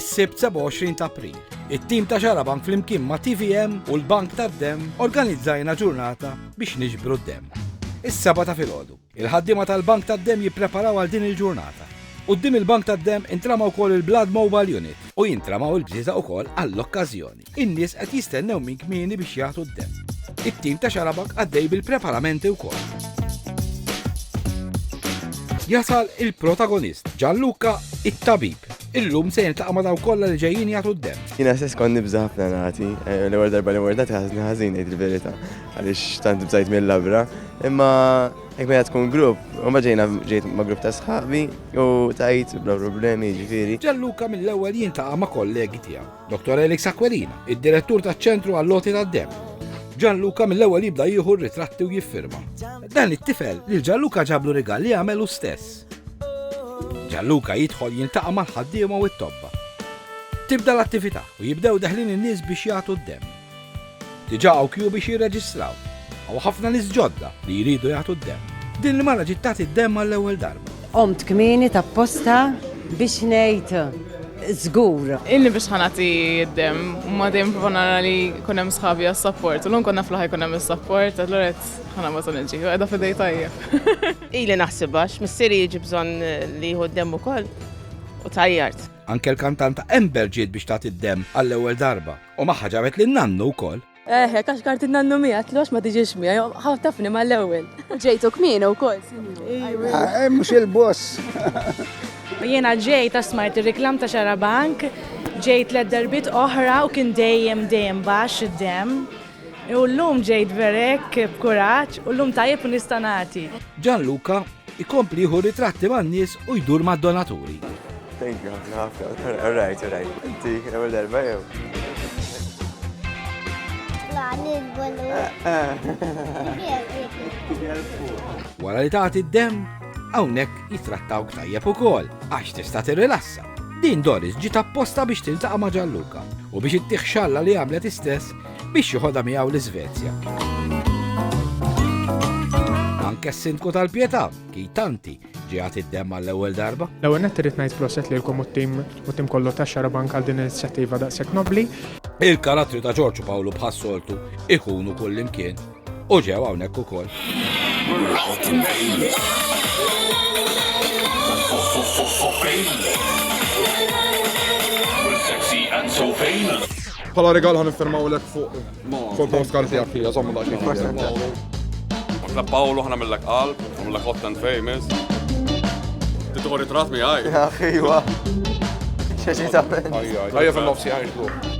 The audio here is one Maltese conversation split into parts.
Is-Sibt 27 ta' April, it-tim ta' Xarabank flimkien ma' TVM u l-Bank tad-Demm organizzajna ġurnata biex niġbru d-demm. Is-Seba' ta' filgħodu, il-ħaddiema tal-Bank tad-Demm jippreparaw għal din il-ġurnata. Quddiem il-Bank tad-Demm intrama wkoll il-Blood Mobile Unit u jintramaw il-bżieżaq ukoll għall-okkażjoni. In-nies qed jistennew minn kmieni biex jagħtu d-demm. It-tim ta' Xarabak għaddej bil-preparamenti wkoll. Jasal il-protagonist, Ġanluka it-tabib. Illum se jiltaqa' ma' daw kollha li ġejjin jagħtu d-demm. Jiena stess kont nibża' ħafna nagħti, eh, l-ewwel darba li mordati ħażni ħażin ngħid il-verità għaliex tant bżajt mill-labra, imma hekk meta tkun grupp, u ma ġejna ġejt ma' grupp ta' sħabi u tajt bla problemi ġifieri. Ġanluka mill-ewwel jintaqa' ma' kollegi tiegħu. Dottor Elix Aquilina, id-Direttur taċ-Ċentru għall-Loti tad-Demm. Ġanluka mill-ewwel jibda jieħu r-ritratti u jiffirma. Dan it-tifel lil Ġanluka ġablu rigal li għamel hu stess. Ġanluka jidħol jintaqa' mal-ħaddiema u t-tobba. Tibda l-attività u jibdew deħlin in-nies biex jagħtu d-demm. Diġà hawn kju biex jirreġistraw. Hawn ħafna nies ġodda li jridu jagħtu d-demm. Din l-mara ġiet tagħti d-demm għall-ewwel darba. Qomt kmieni tapposta biex ngħid żgur. Ilni biex ħa nagħti d-demm. Imma dejjem nipprova nara li jkun hemm sħabi għas-sapport. U llum kont naf li ħa jkun hemm is-sapport, allura qed ħa nagħbad u niġi. U qiegħda f'idej tajjeb. Ili naħsibha għax missieri jiġi bżonn li jieħu d-demm ukoll u tgħajjart. Anke l-kantanta Amber ġiet biex tagħti d-demm għall-ewwel darba. U maħħa ġabet lil nannu wkoll. Eħe, kax kart nannu mija, tlox ma tiġix mija, ħaw tafni ma l-ewel. Ġejtu kmina u kol, ah, eh, Mux il-boss. Jena ġej ta' smart il-reklam ta' xarabank, ġejt l darbit oħra u kien dejjem dejjem bax id-dem. U l-lum ġejt verek b'kuraċ u l-lum tajib nistanati. Ġan Luka Ikompli jieħu ritratti man-nies u jdur mad-donaturi. Thank you, all right, all right. Inti, għamil darba jew. Wara li tagħti d-dem, hawnhekk jitrattawk tajjeb ukoll għax tista' tirrilassa. Din Doris ġiet apposta biex tiltaqa' ma' Ġalluka u biex ittieħ xalla li għamlet istess biex joħodha miegħu l-Iżvezja. Anke s-sindku tal-Pietà, Kitanti, ġiegħat id-dem għall-ewwel darba. L-ewwel nett irid ngħid proset lilkom u t-tim u tim kollu ta' xara bank għal din l-inizjattiva daqshekk nobbli. Il-karattri ta' Ġorġu Pawlu bħas-soltu ikunu kullimkien. U ġew hawnhekk ukoll. Pala regal ħan nifirmaw l fuq fuq post karti għak fija, zommu daċi. La Paolo ħana mill-lek qalb, mill-lek hot and famous. Titħu ritrat mi għaj. Ħiwa. ċeċi ta' Ħajja fil-nofsi għaj xbruħ.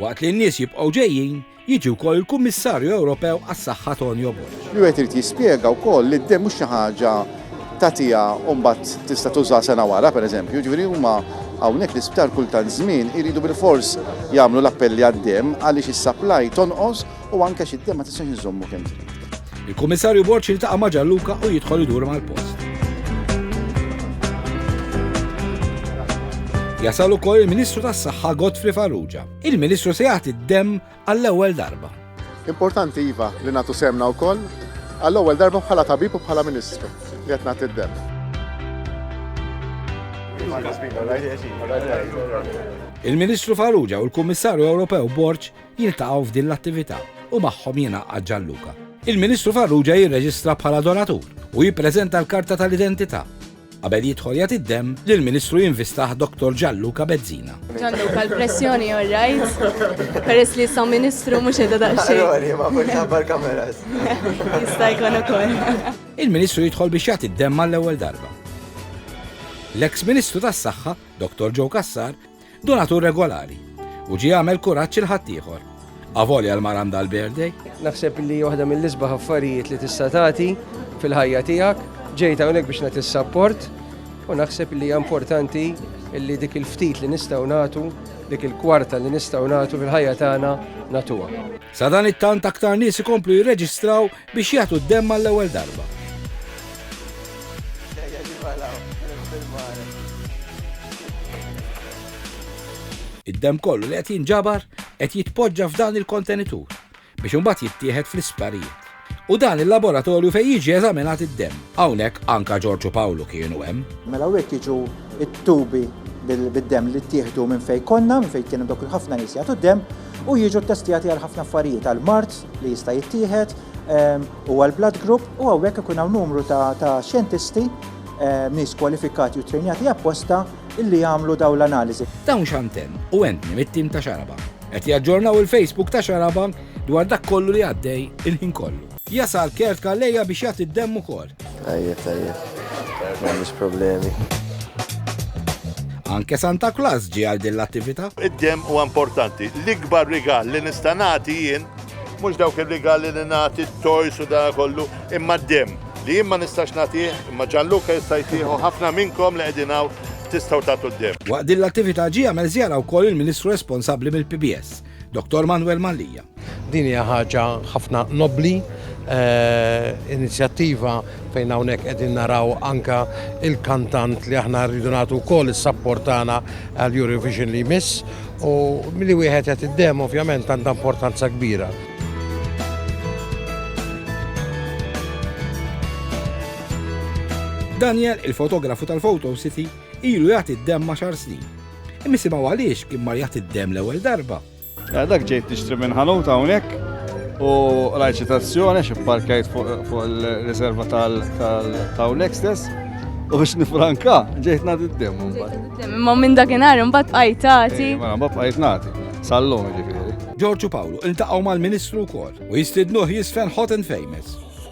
Waqt li n-nies jibqgħu ġejjin, jiġi wkoll il-Kummissarju Ewropew għas-Saħħa Tonio Borg. Li wieħed irid jispjega wkoll li d-demm mhux xi ħaġa tagħtiha u mbagħad tista' tużaha sena wara, pereżempju. Jiġifieri huma hawnhekk l-isptar kull tant żmien iridu bilfors jagħmlu l-appelli għad-demm għaliex is-supply tonqos u anke xi ma tistax iżommu kemm trid. Il-Kummissarju Borċ jiltaqa' ma' Ġalluka u jidħol idur mal-post. Jasal ukoll il-Ministru tas-Saħħa Godfrey Farrugia. Il-Ministru se jagħti d-demm għall-ewwel darba. Importanti iva li nagħtu semna wkoll għall-ewwel darba bħala tabib u bħala Ministru li qed nagħti d-demm. Il-Ministru Farrugia u l-Kummissarju Ewropew Borċ jiltaqgħu f'din l-attività u magħhom jingħaqad Gianluca. Il-Ministru Farrugia jirreġistra bħala donatur u jippreżenta l-karta tal-identità. Qabel jidħol jagħti d-demm, l-Ministru jinvistaħ Dr. Gianluca Bezzina. Gianluca, l-pressjoni all right? Peress li sa Ministru mhux qiegħda daqsxejn. Allora, ma forsi ħabbar kameras. Jista' jkun ukoll. Il-Ministru jidħol biex jagħti d-demm għall-ewwel darba. L-eks Ministru tas-Saħħa, Dr. Joe Kassar, Donatur regolari. U ġie għamel kuraġġ 'il ħaddieħor. Avolja l-mara għandha l-birthday. Naħseb li waħda mill-isbaħ affarijiet li tista' tagħti fil-ħajja tiegħek. Ġejt hawnhekk biex nagħti s-sapport u naħseb li hija importanti li dik il-ftit li nistgħu nagħtu, dik il-kwarta li nistgħu nagħtu fil-ħajja tagħna nagħtuha. Sadanittant aktar nies ikomplu jirreġistraw biex jagħtu d-demm għall-ewwel darba. Id-demm kollu li qed jinġabar qed jitpoġġa f'dan il-kontenitur biex imbagħad jittieħed fl-isptarijiet. U dan il-laboratorju fejn jiġi eżaminat id-demm. Hawnhekk anka Ġorġu Pawlu kienu hemm. Mela hawnhekk jiġu t-tubi bid-demm li ttieħdu minn fejn konna, minn fejn kienu dawk il-ħafna nies jagħtu d-demm u jiġu ttestjati għal ħafna affarijiet għall-mard, li jista' jittieħed huwa l-blood group u hawnhekk ikun hawn numru ta' xjentisti nies kwalifikati u trejnjati apposta illi jagħmlu dawn l-analiżi. Dawn Xanten u Anthony mit-tim ta' Xaraba qed jaġġornaw il-Facebook ta' Xaraba dwar dak kollu li għaddej il-ħin kollu. Jasal Kurt Calleja biex jagħti d-demm ukoll. Tajjeb, tajjeb. M'għandix problemi. Anke Santa Claus ġie għal din l-attività. Id-dem huwa importanti. L-ikbar rigal li nista' nagħti jien mhux dawk ir-rigali li nagħti t-toys u da kollu, imma d-dem li jien ma nistax nagħtih, imma Ġanluka jista' jtieħu ħafna minnkom li qegħdin hawn tistgħu tagħtu d-dem. Waqt din l-attività ġie għamel żjara wkoll il-Ministru responsabbli mill-PBS. Dottor Manuel Mallia. Din hija ħaġa ħafna nobbli, eh, inizjattiva fejn hawnhekk qegħdin naraw anka il-kantant li aħna rridu nagħtu wkoll is-sapport tagħna għal Eurovision li jmiss u milli wieħed qed id-dem ovvjament għandha importanza kbira. Daniel, il-fotografu tal-Photo City, ilu jagħti d-dem ma' xar snin Imisimaw għaliex kien marjat id-dem l-ewwel darba. Ja dak ġejt tixtri minn ħanut hawnhekk u rajt xi tazzjoni xi parkajt fuq il-riserva tal-hawnhekk stess. U biex nifranka, ġejt nagħti d-dem. Imma minn dakinhar imbagħad bqajt tagħti. Eh, mela mbagħad bqajt nagħti. Sallum ġifieri. Ġorġu Pawlu iltaqgħu mal-Ministru wkoll u jistidnuh jisfen hot and famous.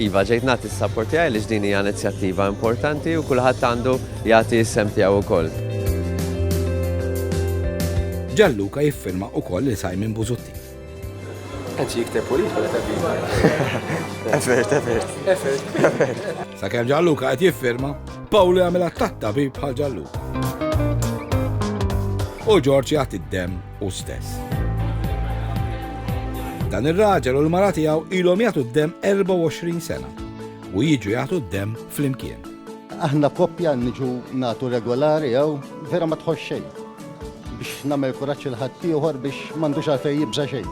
Iva, ġejt nagħti s-sapport tiegħi għaliex din hija inizjattiva importanti u kulħadd għandu jagħti s-sehem tiegħu wkoll. Gianluca jiffirma wkoll lil Simon Busuttil. Qed jikteb u jidħol qed viva. Effert, effert. Effert. Effert. Sakemm Gianluca qed jiffirma, Paul jagħmel attakk tabib bħal Gianluca. U Ġorġ jagħti d-dem hu stess. Dan ir-raġel u l-mara tiegħu ilhom jagħtu d-demm 24 sena u jiġu jagħtu d-demm flimkien. Aħna koppja niġu nagħtu regolari jew vera ma tħoss xejn biex nagħmel kuraġġ il ħaddieħor biex m'għandux għalfejn jibża' xejn.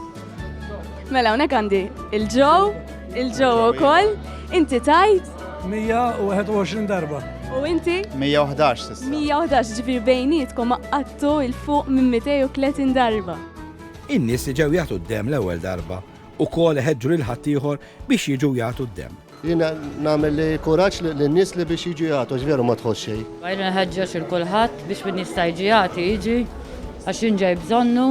Mela hawnhekk għandi il-ġew, il-ġew ukoll, inti tajt 121 darba. U inti? 111 sissa. 111 ġifir bejnietkom għattu il-fuq minn 230 darba. In-nies li ġew jagħtu d-dem l-ewwel darba u kol ħedġu lil ħaddieħor biex jiġu jagħtu d-dem. Jina nagħmel li kuraġġ li n-nies li biex jiġu jagħtu ġveru ma tħoss xejn. Għajna nħeġġeġ il kulħadd biex min jista' jiġi jagħti jiġi għax jinġej bżonnu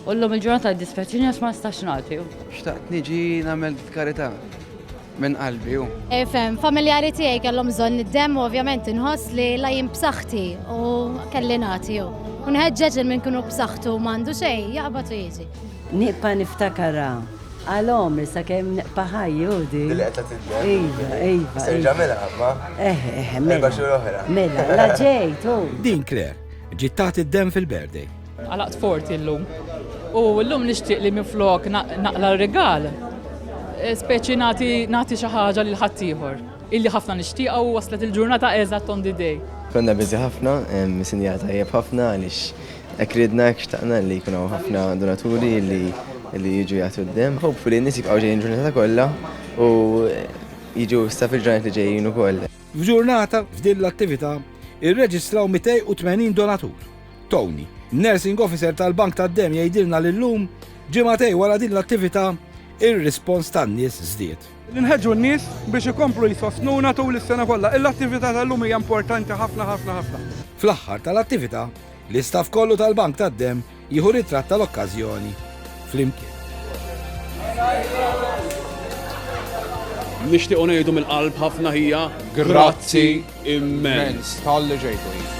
U llum il-ġurnata jiddispjaċini għax ma nistax nagħti. Xtaqt niġi nagħmel karità minn qalbi hu. Efhem, familjari tiegħi kellhom bżonn id-demm u ovvjament inħoss li la jien b'saħħti u kelli nagħti hu. U nħeġġeġ li min kienu b'saħħtu m'għandu xejn jaqbad u jiġi. Nibqa' niftakarha għal għomri sakemm nibqa' ħajji hu di. Li qed tagħti d-demm. Iva, iva. Se ġamilha imma. Eh, eh, mela. Erba' xhur oħra. Mela, la ġejt hu. Din Claire ġiet tagħti d-demm fil-birthday. Għalaqt forti llum. U llum nixtieq li minflok naqla' r-rigal, speċi nagħti nagħti xi ħaġa lil ħaddieħor illi ħafna nixtieqha u waslet il-ġurnata eżatt on the day. Konna busy ħafna, sinjal tajjeb ħafna għaliex hekk ridna, hekk xtaqna li jkun hawn ħafna donaturi li li jiġu jagħtu d-demm. Hopefully n-nies jibqgħu ġejjin il-ġurnata kollha u jiġu issa fil-ġranet li ġejjin ukoll. F'ġurnata f'din l-attività irreġistraw 280 donatur. Tony, Nursing Officer tal-Bank tad-Demm jgħidilna li llum, ġimagħtej wara din l-attività, ir-rispons tan-nies żdied. Inħeġġu n-nies biex ikomplu jsostnuna tul is-sena kollha. Il-attività tal-lum hija importanti ħafna ħafna ħafna. Fl-aħħar tal-attività, l-istaff kollu tal-Bank tad-Demm jieħu ritratt tal-okkażjoni flimkien. Nixtiequ ngħidu mill-qalb ħafna ħija. Grazzi. immens talli ġejtuni.